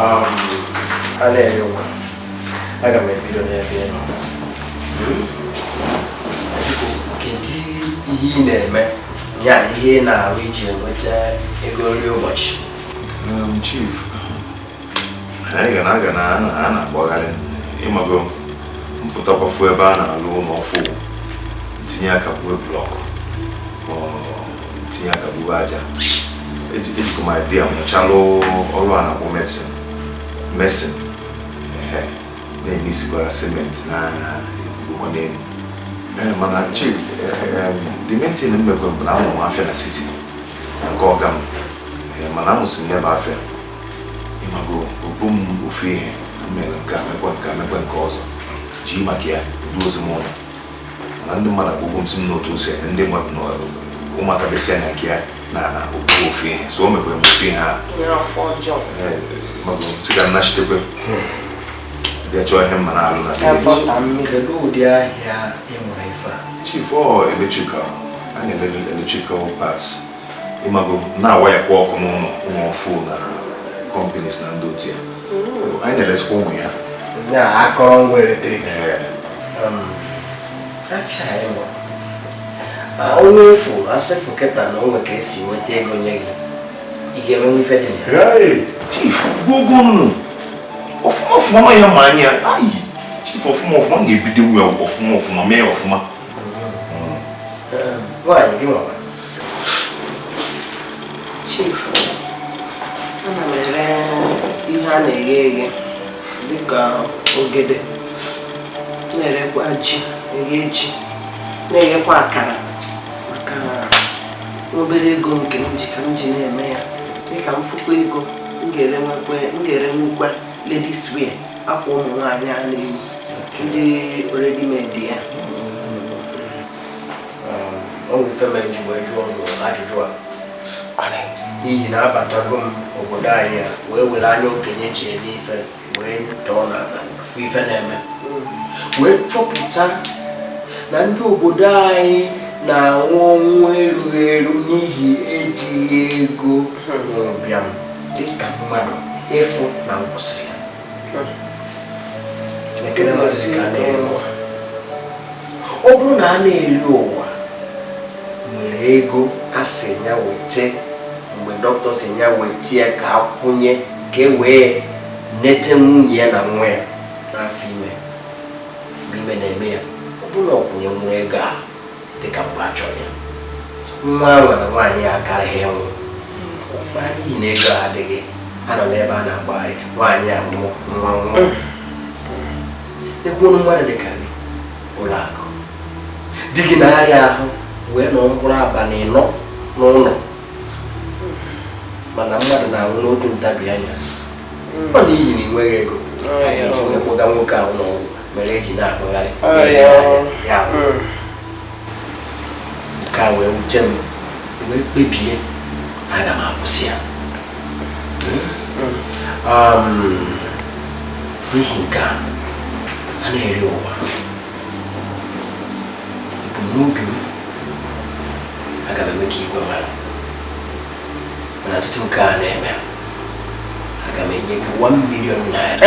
Um, a na-ere ụwa aga m ebido n'ebe ị nọ hmm? kedu ihe ị na-eme ya ihe ị na-arụ iji enweta ego nri ụbọchị um, chief anyị ga na aga na a na-akpagharị ịmago m pụtakwa fụ ebe a na-alụ ụlọ ọfụụ tinye aka buwe blọkụ tinye aka buwe aja ejikọ m idea mụchalụ ọrụ a na-akpọ mason mason na-eme isikwa simenti na ebubo n'elu Eh, mana chief eh, eh, the main thing m mekwe bụ na amụrụ m afịa na siti na nke ọga m mana amụsị m ya bụ afịa ịmago ọ bụ m ofu ihe na mere nke a mekwa nke a mekwa nke ọzọ ji maka ya o duzie m ụlọ mana ndị mmadụ agbụgbụ m si m n'otu ose ndị mmadụ nọ ụmụaka besi anya nke ya na na okwu ofu ihe so o mekwere m ofu ihe a mago sị ka m nachitekwe bịa chọọ ihe m ma na-alụ na chief ọ electrical anyị electrical parts ịmago na-awayakwa ọkụ n'ụlọ ụmụ ọfụụ na kọmpanis na ndị otu ya hmm. anyị na-elesikwa ụmụ ya ya akọrọngwa eletrik onye efu a sị fụ kịta na o nwe ka e si nweta ego nye gị ị ga-emenwu ife dị ya chief gwogo nnu ọfụma ọfụma ma ya ma anya ayi chief ọfụma ọfụma na-ebidonwu ọfụma ọfụma mee ọfụma hmm. Hmm. nwaanyị gị nwa Chief, ana m ere ihe a na-eghe eghe dịka ogede na-erekwa ji eghe ji na-eghekwa akara maka obere ego nke m ji ka m ji na-eme ya dịka m fụkwa ego m ga-erenwukwa ladies wear akwa ụmụ nwaanyị a na-eyi ndị already made ya o nwe ife me m ji wee jụọ unu ajụjụ a n'ihi na abatago m obodo anyị a wee were anya okenye ji ele ife wee tọọ na-afụ ife na-eme wee chọpụta na ndị obodo anyị na-anwụ ọnwụ erughị eru n'ihi ejighị ego na ụbịam dịka mmadụ ịfụ na nkwụsị ọ bụrụ na a na-eri ụwa nwere ego a sị ya wete mgbe dọkịta sị ya wete ya ka a kwụnye ka e wee nete nwunye ya na nwa ya n'afọ ime mgbe ime na-eme ya ọ bụrụ na ọ kwụnyenwuru ego a dịka mgbe a chọrọ ya nwa a nwere nwaanyị ya akaraghị ịnwụ mana n'ihi na ego adịghị a nọ n'ebe a na-agbagharị nwaanyị a nwụọ nwa anwụọ ekwuonu mmadụ dịka gị ụlọakụ di gị na-arịa ahụ wee nọ mkpụrụ abalị ịnọ n'ụlọ mana mmadụ na-anwụ n'otu ntabi anya ọ n'ihi na ị nweghị ego a ga-eji wee kpọga nwoke ahụ ụlọ ọgwụ mere e ji na-akpụgharị nke a wee wute m wee kpebie aga m akwụsị ya n'ihi nke a a na-eri ụwa ebumnobi m aga m eme ka igwe mara mana tutu nke a na-eme aga m enye gị 1 million naira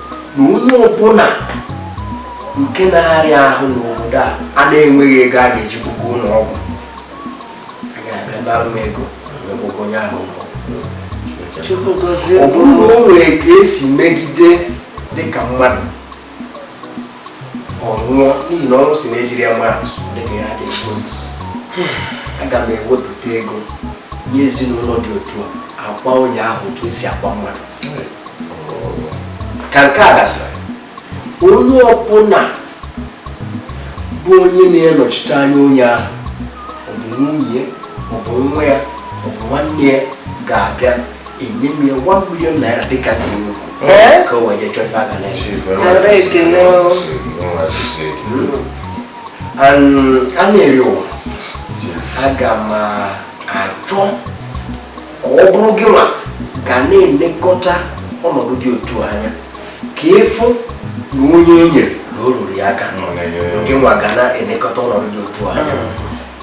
na onye ọbụla nke na-arịa ahụ n'obodo a na-enweghị ego a ga-eji buga ụlọ ọgwụ a ga-abịa nara m ego ọgwụgwọ onye ahụ ọ bụrụ na o nwere ka esi megide dịka mmadụ ọ nwụọ n'ihi na ọnwụ sị na ejiri ya mara atụ dịka ya dị nsọ aga m ewepụta ego nye ezinụlọ dị otu a a kwaa onye ahụ otu esi akwa mmadụ ka nke a gasịrị onye ọbụla bụ onye na-anọchite anya onye ahụ ọ bụ nwunye ọ bụ nwa ya ọ bụ nwanne ya ga-abịa enye m ya 1 million naira dịka si m eh? ka o wee jee chọọ ife aka na a na-eri ụwa aga m achọ ka ọ bụrụ gị nwa ga na-elekọta ọnọdụ dị otu a anya ka ị fụ na onye e nyere na o ruru ya aka gị nwa ga na-elekọta ọnọdụ dị otu a anya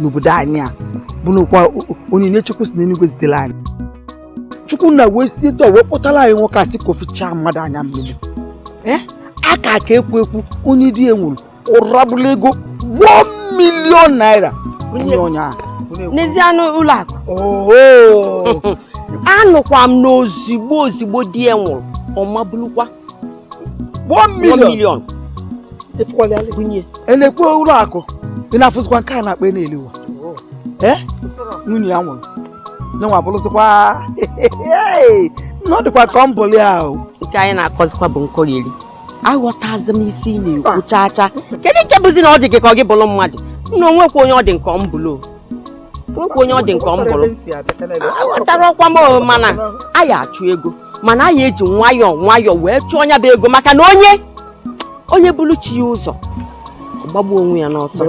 n'obodo anyị a bụnụkwa onyinye chukwu si n'eluigwe zitere anyị chukwu nna wee si etu a wee kpọtara anyị nwoke a sị ka o fichaa mmadụ anya mmiri ee eh? a ka ka ekwu ekwu onye di ya nwụrụ ụrabụla ego 1 million naira onye ahụ n'ezie anụ ụlọakụ anụkwa m na ozigbo ozigbo di ya nwụrụ ọ mabulukwa one million eh lekwe ụlọakụ ị na-afụzikwa nke a na-akpa n'elu ụwa eh? nwunye ya nwụrụ nyenwa bụrụzikwa na ọ dịkwa m ka ọ m bụlụ ahụ nke anyị na-akọzikwa bụ nkọrịrị aghọtazi m isi ị na-ekwu ah. chaa chaa kedu nke bụzi na ọ dị gị ka ọ gị bụrụ mmadụ nna o nwekwa onye ọ dị m ka ọ m bụlụ nwekwa onye ọ dị m ka ọ m bụrụ aghọtarọkwa m mana a ya achụ ego mana anyị eji nwayọọ nwayọọ wee chụọ nya bụ ego maka na onye onye buru chi ya ụzọ gbagbuo onwe ya n'ọsọ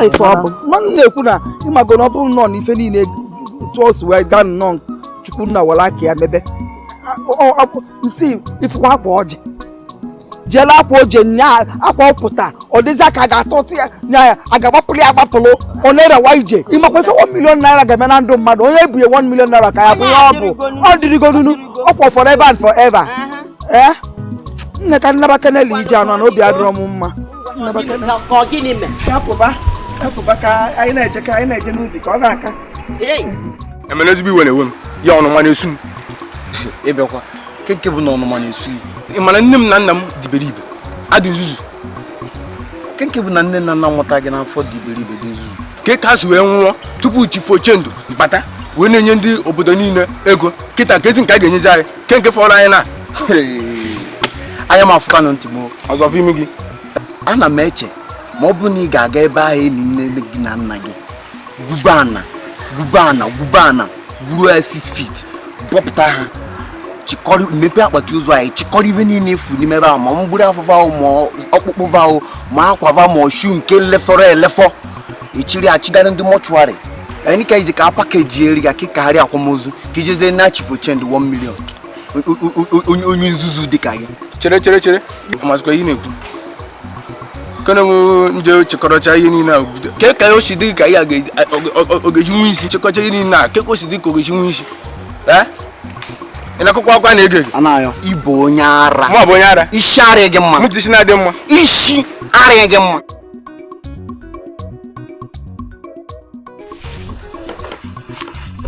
ife ọ bụ mmanụ na-ekwu na ị mago na ọ bụ nnọọ n'ife niile etu o si wee gaa nnọọ chukwu nna were aka ya mebe nsi ị fụkwa akwa ọjị jele akwa oje nya akwa ọ pụta ọ dịzị ka a ga-atọtụ ya nya ya a ga-agbapụrụ ya agbapụrụ ọ na-erewa ije ị makwa ife 1 million naira ga-eme na ndụ mmadụ onye e bunye 1 million naira ka ya bụ ihe ọ bụ ọ dịrịgonunu ọkwa forever and forever ee eh? nne ka m naba keneli ije anọ na obi adịrọ m mma hapụba ka anyị na-eje ka anyị na-eje n'ubi ka ọ na-aka emere ezigbo iwe na-ewe m ya ọnụma na-esu m ị bịakwa ke nke bụ na ọnụma na-esu gị ị ma na nne m na nna m dị iberibe dị nzuzu ke nke bụ na nne na nna mụta gị n'afọ dị iberibe dị nzuzu ke ka ha si wee nwụọ tupu Chief Ochendo bata wee na-enye ndị obodo niile ego kịta keezi nke a ga-enyezi anyị ke nke fọrọ anyị na anya m afụkanụ ntị m ọzọ fụ imi gị ana m eche ma ọ bụ na ị ga-aga ebe ahụ e ni nne gị na nna gị gwube ana gwube ana gwube ana gwuru ya 6 feet bọpụta ha chịkọrọ mepee akpati ozu ahụ chịkọrọ ife niile ị fụ n'ime ebe ahụ ma mgbiri afọ va ahụ ma ọkpụkpụ va ahụ ma akwa va ma ashụ nke lefọrọ elefọ ị chịrị chịgara ndị mọchụarị anyị ka iji ka a pakejiere ya ka ị kwagharịa akwamozu ka i jezie naa Chief Ochendo 1 million O- o- o- o- onye onye nzuzu dị ka gị chere chere chere ị mazikwa ihe ị na-ekwu ka m je chịkọrọcha ihe niile a bido ke ka o si dị ka ya ọ ga-eji nwe isi chịkọcha ihe niile a ke ka o si dị ka ọ ga-eji nwe isi ee ị na-akụkọ akwa na ego ego ị bụ onye ara mụ bụ onye ara isi adịrọ gị mma mụtụ isi na-adị mma isi adịrọ gị mma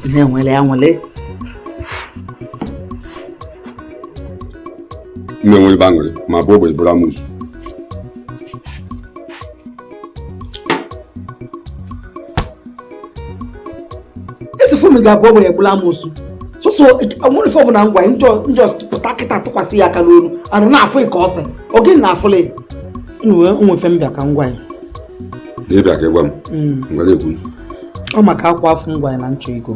ihe nwere ya nwere na-enwe ebe aṅụrị ma bụ ogbenye bụrụ amosu esifu m ga-abụ ogbenye bụrụ amosu sọsọ nwere ife ọ bụna m gwa gị je pụta kịta tụkwasị ya aka n'ọrụ arụ na-afụ gị ka ose oge na-afụlị nwe ife m bịa ka m gwa gị na ị bịa ka ị gwa m ngwa kwuo ọ maka akwa afụ m gwa gị na m chọ ego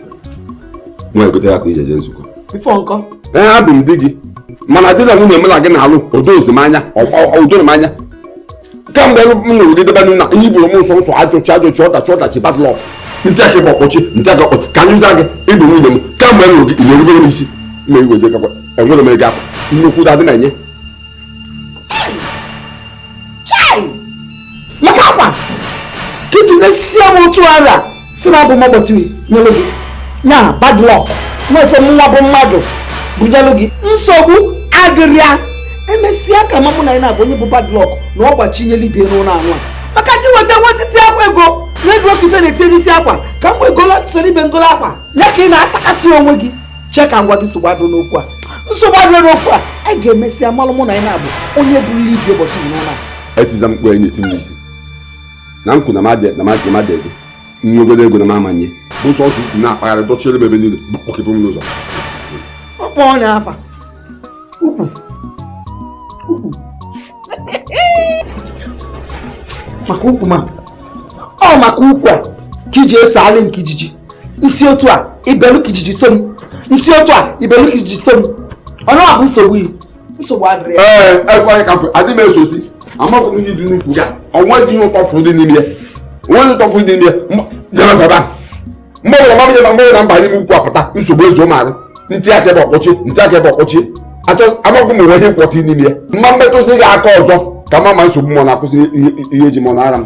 nwa egote akwa e ji eje nzukọ before nkọ ee abụ m di gị mana di na nwunye m na gị na-alụ edozi m anya edorọ m anya kamgbe m nụrụ gị debe na ihe i buru m sọsọ ajọ chi ajọ chi ọdachi ọdachi bad luck m tie aka ebe a ọ kpọchie m tie aka ọ kpọchie ka anyị ụza gị ị bụ nwunye m kamgbe m nụrụ gị ị na-erubere m isi ma igwe je kakwa enwere m ego akwa nnukwu dadị na-enye maka akwa ka i ji na-esie m otu ara si na abụ m ọgbọtiri nyelụ gị ya bad luck nwefe m nwa bụ mmadụ bunyelụ gị nsogbu adịrọ ya emesịa ka malụ mụ na gị nabọ onye bụ bad luck na ọ gbachinyela ibe n'ụlọ anwa maka gị weta nwetiti akwa ego na-eduro ka ife na-etinye n'isi akwa ka mgbe egola soro ibe m gola akwa ya ka ị na-atakasị onwe gị chee ka m gwa gị nsogbu adịrọ n'okwu a nsogbu adịrọ n'okwu a anyị ga-emesịa malụ mụ na gị nabọ onye bụrụla ibi ụbọchị n'ụlọ a etiza mkpu enyi tinye isi na nkwu na mmadụ na mmadụ mmadụ ego nye ogolo ego na m amanye bụ sọsọ ukwu na-akpagharị dọchiere m ebe niile kpọkepụ m n'ụzọ ọkpọ ọ na-afa ukwu ukwu maka ukwu ma ọ maka ukwu a ka iji eso alị nke ijiji nsị otu a ibelu ka ijiji so m nsị otu a ibelu ka ijiji so m ọnụ a bụ nsogbu iyi nsogbu adịrọ ya ee ekweghị ka adị m esosi amaghị m ihe dị n'ukwu ya o nwezi ihe ụtọ fụrụ dị n'ime ya o nwezi ụtọ fụrụ dị n'ime ya jere febe a mgbe ọbụla mama ihe na mgbe na m ba n'ime ukwu apụta nsogbu ezuo m arụ m tie aka ebe ọ kpọchie m tie aka ebe ọ kpọchie achọ amaghị m o nwe ihe m kwọta n'ime ya m ma-emetụsị gị aka ọzọ ka m ma ma nsogbu m ọ na-akwụsị ihe eji mọ na ara m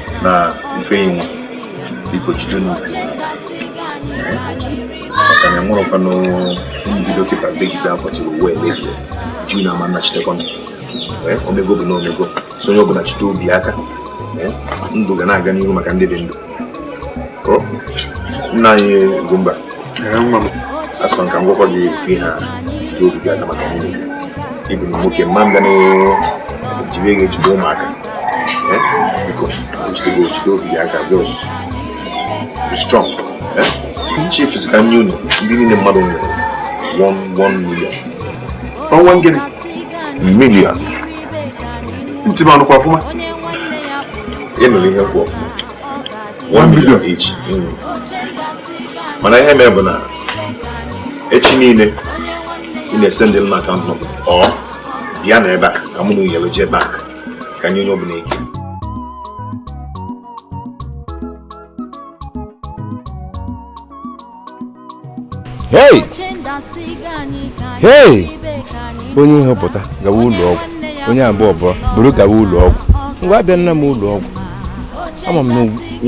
na ife inwe biko jide n'obi maka na enwerọkwanụ mbido kịta begide akwa till ụwa emebie ju na ama nnachitekwanụ o meego bụ na o meego so onye ọbụla jide obi aka ndụ ga na-aga n'ihu maka ndị dị ndụ nna anyị Ugwumba asịkwa m ka m gwakwa gị ofu ihe a jide obi gị aka maka nwunye gị ị bụ na nwoke mma m ga na-ejide ga-ejide ụmụaka chief si ka m nye unu ndị niile mmadụ nwere 1 million one gịnị million ntị m anụkwa ọfụma ị nụrụ ihe m kwu ọfụma 1 million each hmm. mana ihe mee bụ na echi niile ị na-esendi m account number or bịanụ ebe a ka mụ na unu yiri jee bank ka nye onye ọbụla ike hey hey onye ihe pụta gawa ụlọ ọgwụ onye abụọ bụọ buru gawa ụlọ ọgwụ ngwa abịana m ụlọ ọgwụ ama m na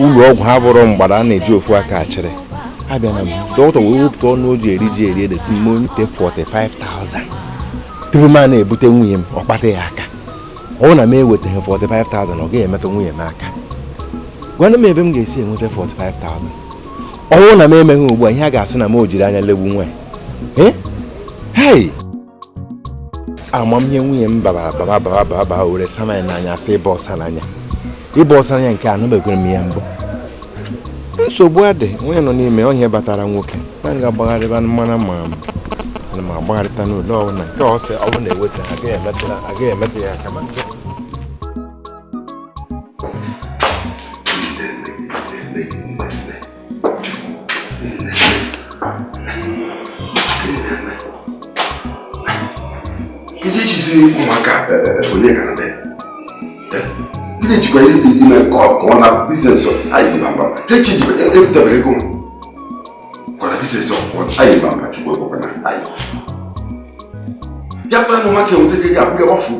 ụlọ ọgwụ ha bụrụ mgbada a na-eji ofu aka achịrị abịana m dọkịta wee wepụta ọnụ o ji eri ji eri ede si mụ nyete 45,000 tupu m a na-ebute nwunye m ọ kpatụ ya aka ọ bụrụ na m ewetaghị 45,000 ọ gaghị emetụ nwunye m aka gwanụ m ebe m ga-esi enweta 45,000 ọ bụrụ na m emeghị ugbu a ihe a ga-asị na m o jiri anya legbu nwa ya Eh? hei ama m ihe nwunye m babara baba baba baba baba were sana ya n'anya sị ịba ọsa n'anya ịbụ ọsọ anya nke anụbekwere m ya mbụ nsogbu adị nwunye nọ n'ime onye batara nwoke na nga agbagharịba mmanụ ma ana m agbagharịta n'ụlọ ọbụla nke ọsọ ọbụ na-eweta agaghị emetụ ya aka ma nke Gịnị ejizi ụmụaka eh, onye gara be? Eh, gịnị jikwa ihe dị ime ka ọ na biznes anyị mba mba? Ha echi jikwa ebutebere ego m. Kwana biznes ọkụkọ anyị mba mba chukwu ekwekwana anyị. Ya kpara na ụmụaka enweta ego ga-abụ ya gbafuo.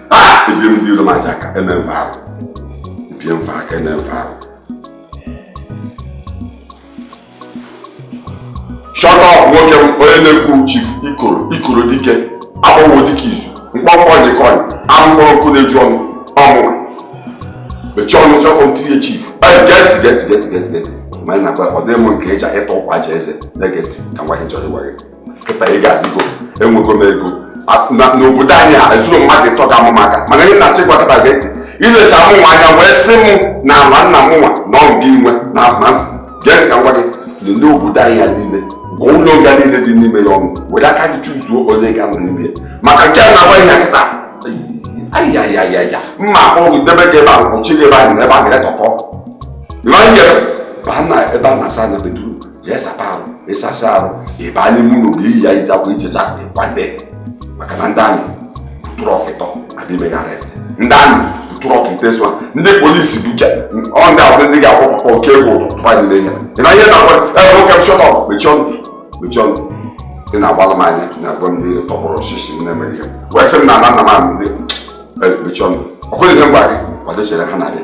ebie m dị iro ma aja ka eme mfe ahụ ebie mfe aka eme mfe ahụ shut up nwoke m onye na-ekwu chief ikoro ikoro dike agbanwo dike izu mkpọmkpọ nyekọnyị amụkpọrọ nkụ na-eju ọnụ ọmụma mechie ọnụ chọkọ m tinye chief geti geti geti geti geti ma anyị na-agba ọ dị mụ nke eji ịtọ ụkwa ji eze na-egeti ka nwaanyị chọrọ ịgwa gị kịta ị ga-adịgo enwego m ego n'obodo anyị a ezuru mmadụ ịtọ ga maka mana ihe na-achọ ịgwa kịta gee ntị ilecha mụ nwa anya wee sị m na ama nna m nwa na ọ gị nwe na ama gee ntị ka m gwa gị lelee obodo anyị a niile gụọ ụlọ nga niile dị n'ime ya ọnụ were aka gị chuzuo ole ị ga-anọ n'ime ya maka nke a na-agwa ihe kịta ayayayaya mma akpọrọ gị debe gị ebe ahụ kpọchi gị ebe ahụ na ebe ahụ ga-etọkọ baa na ebe a na-asa anya beduru jee sapa arụ ịsasa arụ ịba n'ime ụlọ bịa yiri akwa ijecha kwado maka na ndị amị truck ịtọ abịa ime gị arestị ndị amị truck ite sụa ndị polisi bụ ike ọ ndị abụrụ ndị ga-akwụ papa oke egwu tụpa anyị n'ehia ị na ihe na-agwa gị nwoke m shut up mechie ọnụ mechie ọnụ ị na-agbala m anya na-agwa m niile tọgbọrọ ọchịchị n'America wee sị m na ana m anụ ndị mechie ọnụ ọ kwere ihe m gwa gị kwado chere ha na-abịa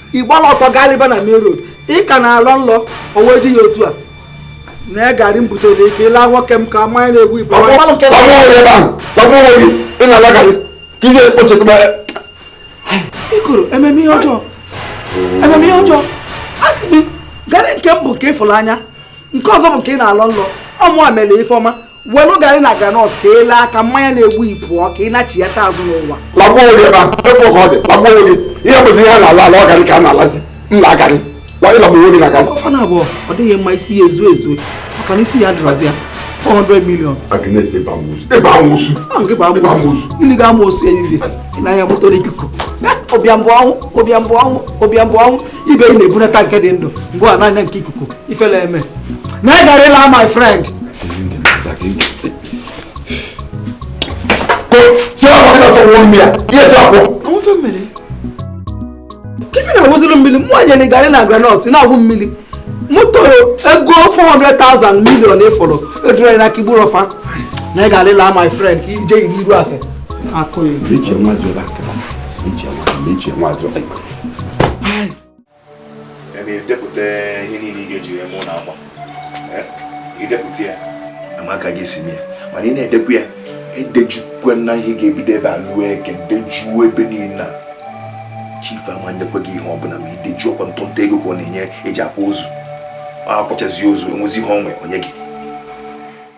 ịgbala ọtọ galiba na main road ị ka na-alọ nlọ o wee dị ya otu a na ya garị m butere ị ka ị la nwoke m ka mmanya na-egbu ị pụọ Ọgwụ ọgwụ nwere ebe ahụ, ọgwụ nwere gị, ị na-ala garị, ka ị ga-ekpochekwa ya. ikoro eme m ihe ọjọọ eme m ihe ọjọọ asị m gị garị nke mbụ nke ịfụrụ anya nke ọzọ bụ nke ị na-alọ nlọ ọ mụwa mere ife ọma welu garị na granọt ka ị laa ka mmanya na-egbu ị pụọ ka ị nachiyata azụ n'ụwa lagbuo onwe gị ebe ahụ efu ka ọ dị lagbuo onwe gị ihe bụzi ihe a na-ala ala ọ garị ka a na-alazi m na garị wa ịlagbuo onwe gị na garị ọ fa naabọ ọ dịghị mma isi ya ezuo ezu maka na isi adịrọzi ya 400 million Agnes ebe amoosu ebe amoosu ahụ gị bụ ebe amoosu amoosu ili ga amoosu evivie si na ya moto na ikuku ọbịa mbụ ọnwụ ọbịa mbụ ọnwụ ọbịa mbụ ọnwụ ibe ị na-ebunata nke dị ndụ ngị a na-anya nke ikuku ifele eme na ị gara ịla my friend ife na-awụziri mmiri mụ anya na ị gara na granọt na-agwụ mmiri moto ego 400,000 million ị fụrụ edurere na kigburu ọfa na ị gara ịla my friend ka ije iru iru afe akụ ya idepụta ihe niile ị ga-eji eme ụlọ akwa idepụta ya amaka gị si ya mana ị na-edekwa ya edejukwena ihe ga-ebido ebe a luo eke dejuo ebe niile na chief ama nyekwa gị ihe ọbụla ma i dejuo ọ kwa ntụntụ ego ka ọ na-enye eji akwa ozu akwachazi ozu enwezi ihe o nwe onye gị